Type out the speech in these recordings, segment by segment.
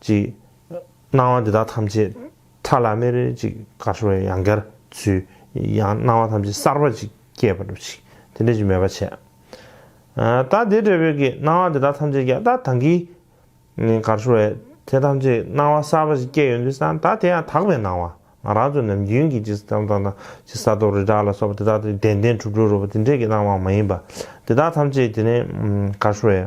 ཅིག། སྣང་བ་འདི་དག་ཐམས་ཅད་ཕྲ་ལ་མེར་ཅིག་དགའ་བྲོ་བའི་ཡང་བསྐྱར་ཚུལ། ཡང་སྣང་བ་ཐམས་ཅད་གསར་པ་ཅིག་སྐྱེས་པར་འགྲུབ་ཅིག་དེ་འདྲའི་ཅི་སྨོས་པ་བྱས། ད་དེ་འབྲས་བུས་ཀྱི་སྣང་བ་འདི་དག་ཐམས་ཅད་ཀྱང་ད་དང་གིས། དགའ་བྲོ་བའི་དེ་ཐམས་ཅད་སྣང་བ་གསར་པ་ཅིག་སྐྱེས་ཡོད་དུས་སང་ད་དེ་ཡང་དག་པའི་སྣང་བ་ང་རང་ཚོ་ནམ་རྒྱུན་གྱི་ཅི་ས་དང་དང་དང་ཅི་ས་རྡོ་རི་བྲག་ལ་སོགས་པ་དེ་དག་ཏུ་བདེན་བདེན་གྲུབ་གྲུབ་རོལ་པ་དེ་འདྲའི་ཀྱི་སྣང་བའང་མ་ཡིན་པ། དེ་དག་ཐམས་ཅད་དེ་ནི་དགའ་བྲོ་བའི།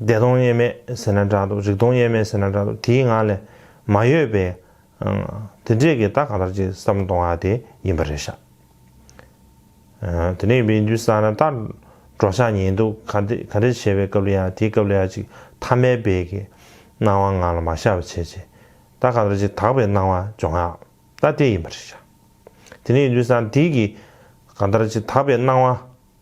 བདེ་སྟོང་དབྱེར་མེད་ཟེར་ན་འདྲ་འདུག་རིག་སྟོང་དབྱེར་མེད་ཟེར་ན་འདྲ་འདུག་དེའི་ངང་ལས་མ་གཡོས་པས། དེ་འདྲས་ཀྱི་རྟགས་གང་ལྟར་གྱི་བསམ་བློ་གཏོང་བ་དེ་ཡིན་པ་རེད་ཤག། དེ་འདྲས་ཡིན་པའི་འདུན་ས་ན་ལྟར་འགྲོ་ཤག་ཉན་འདུག་ག་འདྲས་ག་འདྲས་བྱས་པའི་སྐབས་ལ་ཡང་དེའི་སྐབས་ལ་ཡང་ཅིག་ཐ་མལ་པའི་གི་སྣང་བ་ངང་ལ་མ་ཤར་བ་བྱས་རྗེས། རྟགས་གང་ལྟར་གྱི་དག་པའི་སྣང་བ་འབྱུང་ཡག་རྟགས་དེ་ཡིན་པ་རེད་ཤག། དེ་འདྲས་ཡིན་འདུན་ས་ན་དེའི་གི་གང་ལྟར་གྱི་དག་པའི་སྣང་བ།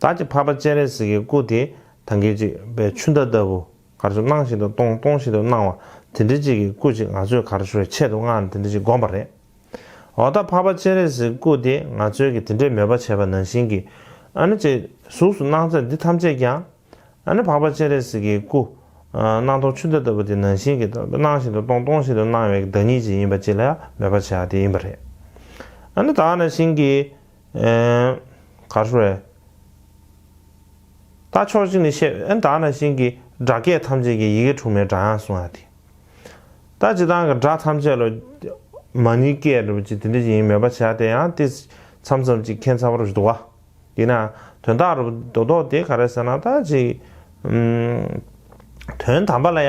བདག་གི་འཕགས་པ་སྤྱན་རས་གཟིགས་ཀྱི་སྐུ་དེ་དང་སྐད་ཅིག་པའི་ཆུ་ཟླ་ལྟ་བུ་གར་ཆུ་སྣང་བཞིན་དུ་སྟོང་སྟོང་བཞིན་དུ་སྣང་བ་དེ་འདྲི་གཅིག་གི་སྐུ་ཅིག་ང་ཚོས་གར་ཆུ་བའི་ཆེད་དུ་སྔགས་འདི་འདྲི་གཅིག་བསྒོམས་པ་རེད། འོ་ད་འཕགས་པ་སྤྱན་རས་གཟིགས་སྐུ་དེ་ང་ཚོའི་གི་དེ་འདྲའི་མོས་པ་བྱས་པ་ནང་བཞིན་གྱི་ཨ་ནི་ཅེ། གཟུགས་སུ་སྣང་ཚད་འདི་ཐམས་ཅད་ཀྱང། ཨ་ནི་འཕགས་པ་སྤྱན་རས་གཟིགས་ཀྱི་སྐུ། སྣང་སྟོང་ཆུ་ཟླ་ལྟ་བུ་དེ་ནང་བཞིན་གྱི་སྣང་བཞིན་དུ་སྟོང་སྟོང་བཞིན་དུ་སྣང་བའི་བདག་ཉིད་ཅིག་ཡིན་པ་ཅིག་ལ་མོས་པ་བྱས་པ་དེ་ཡིན་པ་རེད། ཨ་ནི་དག་ནང་བཞིན་གྱི། ག་རེ་རེད། ད་ཕྱོགས་གཅིག་ནས་བཤད་ཨེ་དྲག་ན་ཤིང་གི་སྒྲ་སྐད་ཐམས་ཅད་ཀྱི་ཡི་གེ་དྲུག་མའི་སྒྲ་དབྱངས་གསུང་ཡ་དེ། ད་ཇི་ལྟར་གི་སྒྲ་ཐམས་ཅད་ལོ། མ་ནི་སྐད་རེད་པ་ཅིག་དེ་འདྲ་ཅིག་ཡིན་མེད་པ་བྱས་དེ་ཡང་ཏིས། མཚམས་མཚམས་ཅིག་མཁན་ཚ་བ་རུ་བཞི་དོ། དེས་ན་དོན་དག་རུ་དོ་དོག་དེ་ག་རེ་ཟེར་ན་ད་ཅིག། དོན་དམ་པ་ལ་ཡ།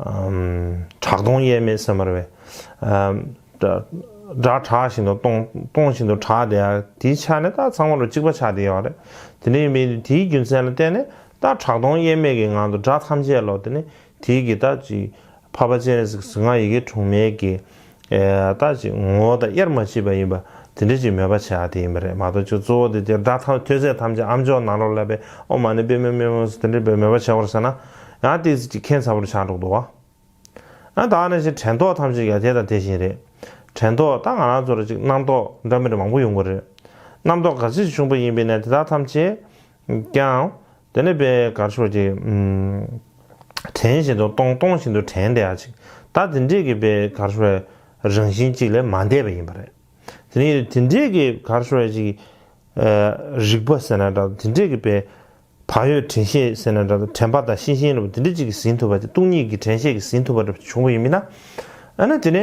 གྲགས་སྟོང་དབྱེར་མེད་སེམས་དཔར་བས། སྒྲ་གྲགས་བཞིན་དུ་སྟོང། སྟོང་བཞིན་དུ་གྲགས་དེ། དེའི་ཆ་ནི་རྟགས་ཚང་བ་རུ་གཅིག་པ་ཆ་དེ་ཡོད་རེད། དེ་འདྲ་ཡིན་པས་དེའི་རྒྱུ་མཚན་ལ་བརྟེན་ནས་རྟགས་གྲགས་སྟོང་དབྱེར་མེད་ཀྱི་ངང་དུ་སྒྲ་ཐམས་ཅད་ལོག་དེ་ནི་དེའི་གི་ད་ཅིག། བྷ་བ་ཅན། ཟིང་ང་ཡི་གེ་དྲུག་མེད་ཀྱི། ལྟ་ཅིག་ངོ་བོ་དང་དབྱེར་མ་མཆིས་པ་ཡིན་པ་དེ་འདྲ་ཅིག་མོས་པར་བྱ་བ་དེ་ཡིན་པ་རེད་མ་གཏོགས་ཆོས་གཙོ་བོ་དེ་དེར་སྒྲ་ཐོས་ཚད་ཐམས་ཅད་ཨམ་ཅོག་ནང་རོ་ལ་པའི་ཨོ་མ་ནི་དཔེ་མི་སྨོས་མོད་དེ་འདྲའི་བས་མོས་པར་བྱ་བར་ཟེར་ན། ཡང་བལྟས་ཚིག་གཅིག་མཁྱེན་ཚ་བོར་ཆགས་འགྲོ་འདུག་ཨ། ད་ནི་ཕྱིར་དྲན་རྟོག་ཐམས་ཅད་ཀྱང་དེ་དང་དེ་བཞིན་རེད། དྲན་རྟོག་ད་ང་རང་ཚོར་ཅིག་རྣམ་རྟོག་འདྲ་མིན་མང་པོ་ཡོང་གི་རེད། རྣམ་རྟོག་ག་ཚོད་ཅིག་བྱུང་བ་ཡིན་པས་ན་དེ་དག་ཐམས་ཅད་ཀྱང། དེ་ནི་པའི་གར་ཕྱོགས་ཀྱི། དྲན་བཞིན་དུ་སྟོང་སྟོང་བཞིན་དུ་དྲན་བདེ་བ་ཅིག་ད་དེ་འདྲས་ཀྱི་པའི་གར་ཕྱོགས་བའི་རང་བཞིན་ཅིག་ལས་མ་འདས་པ་ཡིན་པ་རེད། དེ་ནི་དེ་འདྲས་ཀྱི་གར་ཕྱོགས་བའི་ཅིག། རིག་པ་ཟེར་ན་འདྲ་དེ་འདྲས་ཀྱི་པའི། བག་ཡོད་དྲན་ཤེས་ཟེར་ན་འདྲ་དྲན་པ་དང་ཤེས་བཞིན་ལ་དེ་འདྲས་ཅིག་གིས་ཟིན་ཐུབ་པ་དེ་སྟོང་ཉིད་ཀྱི་དྲན་ཤེས་ཀྱིས་ཟིན་ཐུབ་པ་འདྲ་བྱུང་བ་ཡིན་མིན་ན། ཨ་ན་དེ་ནི།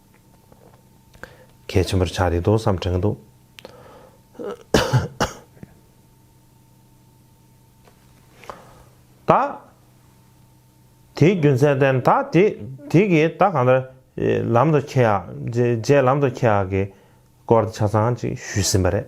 གལ་ཆེན་པོར་ཆགས་འདུག་དོགས་བསམ་དྲན་གྱི་འདུག། ད། དེའི་རྒྱུ་མཚན་བསྟན། ད་དེ་དེ་གི་ད་གང་ལྟར། ལམ་དུ་ཁྱེད་ཡག། རྗེས་ལམ་དུ་ཁྱེད་ཡག་གི། སྐོར་དེ་ཆ་ཚང་ཅིག་ཞུས་ཟིན་པ་རེད།